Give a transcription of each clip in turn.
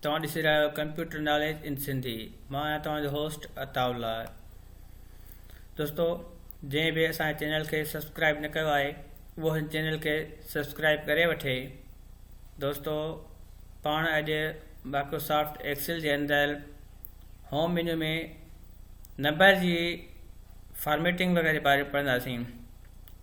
توهان ڏسي رهيا آهيو ڪمپيوٽر ناليج ان سنڌي مان آهيان توهان جو هوسٽ عطاء الله دوستو جنهن به اسان جي چينل کي سبسڪرائب نه ڪيو آهي اهو هن چينل کي سبسڪرائب ڪري وٺي دوستو پاڻ اڄ مائڪروسافٽ ايڪسل جي اندر هوم مينيو ۾ نمبر جي فارميٽنگ وغيرہ جي باري ۾ پڙهنداسين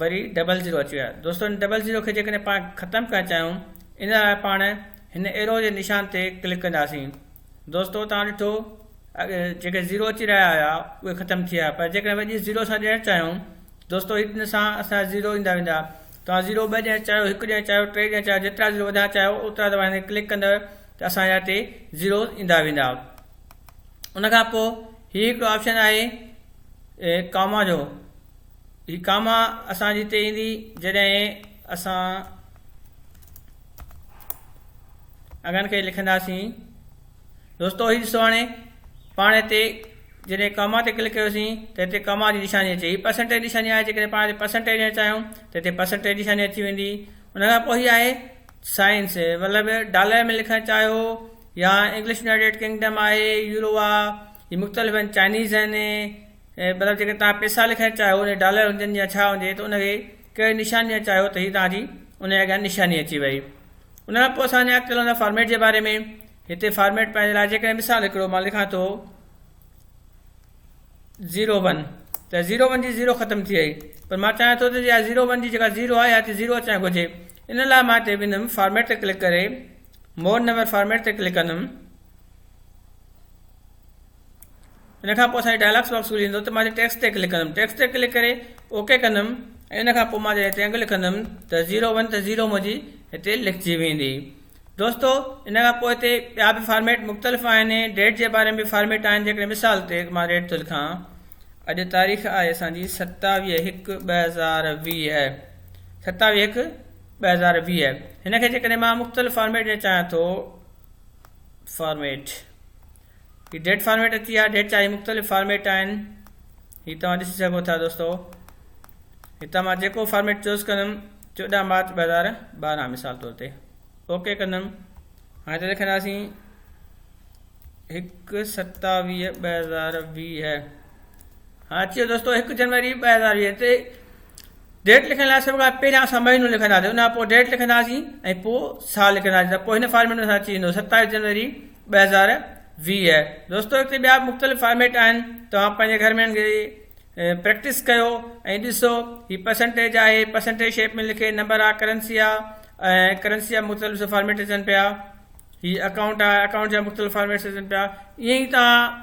وري ڊبل زيرو اچي ويو آهي دوستو ان ڊبل زيرو کي جيڪڏهن پاڻ ختم ڪرڻ چاهيون ان لاء پاڻ هن ايرو جي نشان تي ڪلڪ ڪنداسين دوستو تان ڏٺو جيڪي زيرو اچي رهيا هيا اهي ختم ٿي ويا پر جيڪڏهن وڄي زيرو سان ڏيڻ چاهيون دوستو ان سان اسان زيرو ايندا ويندا توهان زيرو ٻه ڏيڻ چاهيو هڪ ڏيڻ چاهيو ٽي ڏيڻ چاهيو جيترا زيرو وڌائڻ چاهيو اوترا توهان هن ڪلڪ ڪندو ته اسان جا هتي زيرو ايندا ويندا ان کان پوء هي هڪڙو آپشن آهي ڪاما جو هي ڪاما اسان جي هتي ايندي جڏهن اسان اگهن کي لکنداسين دوستو هي ڏسو هاڻي پاڻ هتي جڏهن ڪاما تي ڪلڪ ڪيوسين ته هتي ڪاما جي نشاني اچي هي پرسنٽيج نشاني آهي جيڪڏهن پاڻ هتي پرسنٽيج ڏيڻ چاهيون ته هتي پرسنٽيج نشاني اچي ويندي ان کان پوء هي آهي سائنس مطلب ڊالر ۾ لکڻ چاهيو يا انگلش يونائيٽيڊ ڪنگڊم آهي يورو آهي هي مختلف آهن چائنيز آهن ۽ مطلب جيڪڏهن توهان پيسا لکڻ چاهيو ان ڊالر هجن يا ڇا هجي ته ان کي ڪهڙي نشان ڏيڻ چاهيو ته هي توهان جي ان جي اڳيان نشاني اچي وئي ان کان پوء اسان اڳتي هلندا فارميٽ جي باري ۾ هتي فارميٽ پنهنجي لاء جيڪڏهن مثال هڪڙو مان لکان ٿو زيرو ون ته زيرو ون جي زيرو ختم ٿي وئي پر مان چاهيان ٿو ته اها زيرو ون جي جيڪا زيرو آهي اها زيرو اچڻ گهرجي ان لاء مان هتي ويندم فارميٽ تي ڪلڪ ڪري مور نمبر فارميٽ تي ڪلڪ ڪندم ان کان پوء اسانجي ڊائلاگس باڪس کلي ويندو ته مان هتي ٽيڪسٽ تي ڪلڪ ڪندم ٽيڪسٽ تي ڪلڪ ڪري اوڪي ڪندم ۽ ان کان پوء مان جڏهن هتي انگ لکندم ته زيرو ون ته زيرو منهنجي هتي لکجي ويندي دوستو ان کان پوء هتي ٻيا به فارميٽ مختلف آهن ڊيٽ جي باري ۾ به فارميٽ آهن جيڪڏهن مثال تي مان ڊيٽ ٿو لکان اڄ تاريخ آهي اسانجي ستاويهه هڪ ٻه هزار ويهه ستاويهه هڪ ٻه هزار ويهه هن کي جيڪڏهن مان مختلف فارميٽ ڏيڻ چاهيان ٿو فارميٽ هي ڊيٽ فارميٽ اچي ويا ڊيٽ جا هي مختلف فارميٽ آهن هي توهان ڏسي سگهو ٿا دوستو هتان مان جيڪو فارميٽ چوز ڪندم چوڏهن مارچ ٻه هزار ٻارهن مثال طور تي اوڪي ڪندم هاڻي ته لکنداسين هڪ ستاويهه ٻه هزار ويهه هاڻي اچي ويو دوستو هڪ جنوري ٻه هزار ويهه تي ڊيٽ لکڻ لاء سڀ کان پهريان اسان مهينو لکنداسين ان کان پوء ڊيٽ لکنداسين ۽ پوء سال لکنداسين ته پوء هن فارميٽ ۾ اسان اچي ويندو ستائيس جنوري ٻه هزار ويهه دوستو هتي ٻيا به مختلف فارميٽ آهن توهان پنهنجي گهر ۾ پريڪٽس ڪيو ۽ ڏسو هي پرسنٽيج آهي پرسنٽيج شيپ ۾ لکي نمبر آ ڪرنسي آ ۽ ڪرنسي جا مختلف فارميٽ اچن پيا هي اڪائونٽ آ اڪائونٽ جا مختلف فارميٽس اچن پيا ائين ئي تان